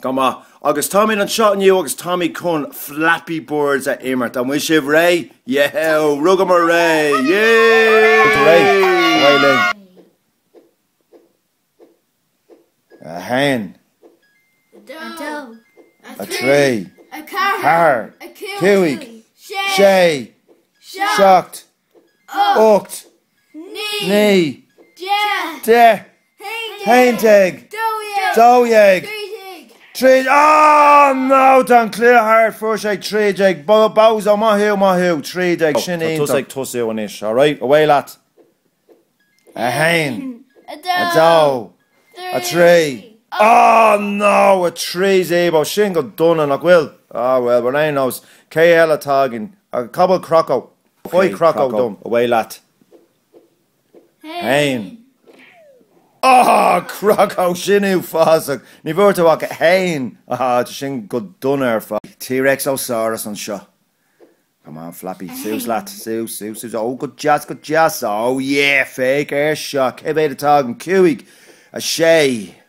Go maith. Agus táimid anseo inniu agus táimid chun Flappy Birds a imirt. An bhfuil sibh réidh? Yeo! Rugadh muid réidh! Yay! Réidh! Away linn! A haon. A dó. A dó. A trí. A ceathair. A ceathair. Cúig. Sé. Sé. Seacht. Seacht. ocht, naoi, deich, aon déag, dó dhéag, trí déag, ó, no, tá an cluiche thart, fuair sé trí déag, Bozo, ó, maith thú, maith thú, trí déag, sin iontach. Tusa anois, alright, away leat. A haon, a dó, a trí, ó, no, a trí zeebo, sin go dona, nach bhfuil? Á, bhuel, ar aon nós, cé eile atá againn? Cá bhfuil Croco? Ok, Faigh Croco dom. Away leat. A haon. Ah! Croco! Sin uafásach! Ní bhfuair tú ach 1! Ah, tá sin go dona ar fad. T-Rex ó Sáras anseo. Come on, Flappy. Suas leat. Suas, suas, suas. Oh, go deas, go deas. Oh yeah! Féach air seo. Cé mhéad atá againn? Cúig. A sé.